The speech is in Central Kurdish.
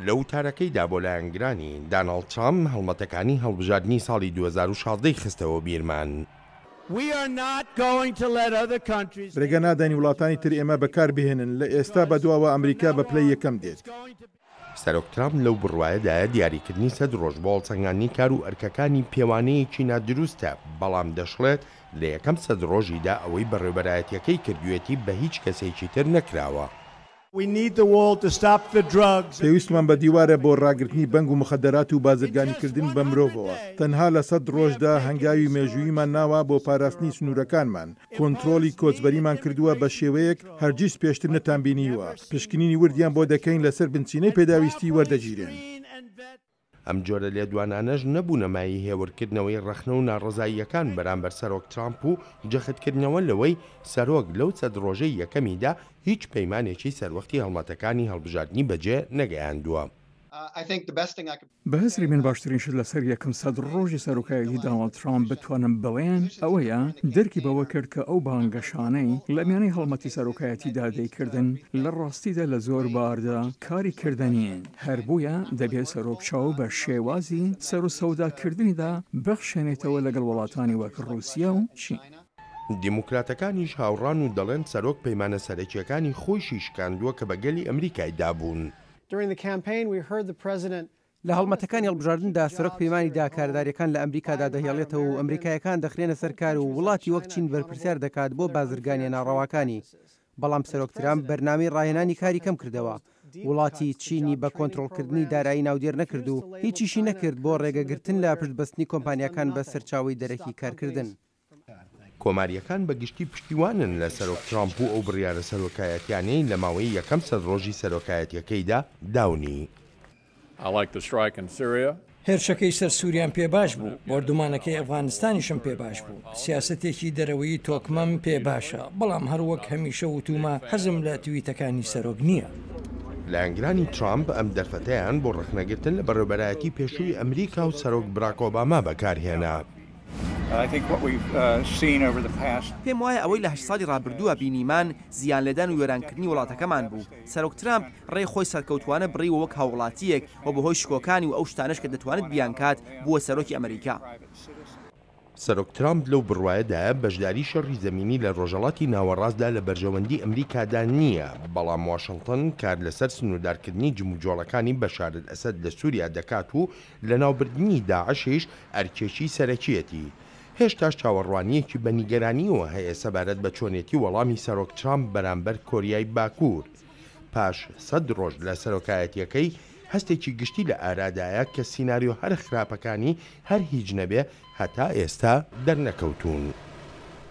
لە وتارەکەیدا بۆ لایەنگرانی، داناڵد ترامپ هەڵمەتەکانی هەڵبژاردنی ساڵی دوو هەزار و شازدە ی خستەوە بیرمان. ڕێگە نادەین وڵاتانی تر ئێمە بەکاربهێنن، لە ئێستا بەدواوە ئەمریکا بە پلەی یەکەم دێت. سەرۆک ترامپ لەو بڕوایەدایە دیاریکردنی سەد ڕۆژ بۆ هەڵسەنگاندنی کار و ئەرکەکانی پێوانەیەکی نادروستە، بەڵام دەشڵێت، لە یەکەم سەد ڕۆژیدا ئەوەی بەڕێوبەرایەتییەکەی کردوویەتی بە هیچ کەسێکی تر نەکراوە. پێویستمان بە دیوارە بۆ ڕاگرتنی بەنگ و مخدرات و بازرگانیکردن بە مرۆڤەوە. تەنها لە سەد ڕۆژدا هەنگاوی مێژووییمان ناوە بۆ پاراستنی سنوورەکانمان. کۆنترۆڵی کۆچبەریمان کردووە بە شێوەیەک هەرگیز پێشتر نەتانبینیوە. پشکنینی وردیان بۆ دەکەین لەسەر بنچینەی پێداویستی وەردەگیرێن. ئەم جۆرە لێدوانانەش نەبوونە مایەی هێورکردنەوەی ڕەخنە و ناڕەزاییەکان بەرامبەر سەرۆک ترامپ و جەختکردنەوە لەوەی سەرۆک لەو سەد ڕۆژەی یەکەمیدا هیچ پەیمانێکی سەروەختی هەڵمەتەکانی هەڵبژاردنی بەجێ نەگەیاندووە. بە هزری من باشترین شت لەسەر یەکەم سەد ڕۆژی سەرۆکایەتی داناڵد ترامپ بتوانم بڵێم ئەوەیە درکی بەوە کرد کە ئەو بانگەشانەی لە میانەی هەڵمەتی سەرۆکایەتیدا دەیکردن لە ڕاستیدا لە زۆر باردا کاری کردە نین. هەر بۆیە دەبێت سەرۆک چاو بە شێوازی سەروسەوداکردنیدا بخشێنێتەوە لەگەڵ وڵاتانی وەک ڕووسیا و چین. دیموکراتەکانیش هاوڕان و دەڵێن سەرۆک پەیمانە سەرەکییەکانی خۆیشی شکاندووە کە بە گەلی ئەمریکای دابوون. لە هەڵمەتەکانی هەڵبژاردندا سەرۆک پەیمانی دا کاردارییەکان لە ئەمریکادا دەهێڵێتەوە و ئەمریکاییەکان دەخرێنە سەر کار و وڵاتی وەک چین بەرپرسیار دەکات بۆ بازرگانییە ناڕەواکانی بەڵام سەرۆک ترامپ بەرنامەی ڕاهێنانی کاری کەم کردەوە، وڵاتی چینی بە کۆنترۆڵکردنی دارایی ناودێر نەکرد و هیچیشی نەکرد بۆ ڕێگەگرتن لە پشتبەستنی کۆمپانیاکان بە سەرچاوەی دەرەکی کارکردن. کۆمارییەکان بە گشتی پشتیوانن لە سەرۆک ترامپ و ئەو بڕیارە سەرۆکایەتیانەی لە ماوەی یەکەم سەد ڕۆژی سەرۆکایەتیەکەیدا داونی. هێرشەکەی سەر سوریام پێ باش بوو، بۆردومانەکەی ئەفغانستانیشم پێ باش بوو، سیاسەتێکی دەرەوەیی تۆکمەم پێ باشە، بەڵام هەر وەک هەمیشە وتومە حەزم لە تویتەکانی سەرۆک نییە. لایەنگرانی ترامپ ئەم دەرفەتەیان بۆ ڕەخنەگرتن لە بەڕێوبەرایەتی پێشووی ئەمریکا و سەرۆک براک ئۆباما بەکارهێنا. پێموایە ئەوەی لە هەشت ساڵی ڕابردووە بینیمان زیانلێدان و وێرانکردنی وڵاتەکەمان بوو، سەرۆک ترامپ ڕێی خۆی سەرکەوتوانە بڕیوە وەک هاووڵاتییەک و بەهۆی شکۆکانی و ئەو شتانەش کە دەتوانێت بیانکات، بووە سەرۆکی ئەمریکا. سەرۆک ترامپ لەو بڕوایەدایە بەشداری شەڕی زەمینی لە ڕۆژهەڵاتی ناوەڕاستدا لە بەرژەوەندی ئەمریکادا نییە، بەڵام واشنتن کار لەسەر سنووردارکردنی جموجۆڵەکانی بەشارل ئەسەد لە سووریا دەکات و لەناوبردنی داعشیش ئەرکێکی سەرەکییەتی. هێشتاش چاوەڕوانییەکی بە نیگەرانییەوە هەیە سەبارەت بە چۆنێتی وەڵامی سەرۆک ترامپ بەرامبەر کۆریای باکوور. پاش سەد ڕۆژ لە سەرۆکایەتییەکەی، هەستێکی گشتی لە ئارادایە کە سیناریۆ هەرە خراپەکانی هەر هیچ نەبێ هەتا ئێستا دەرنەکەوتوون.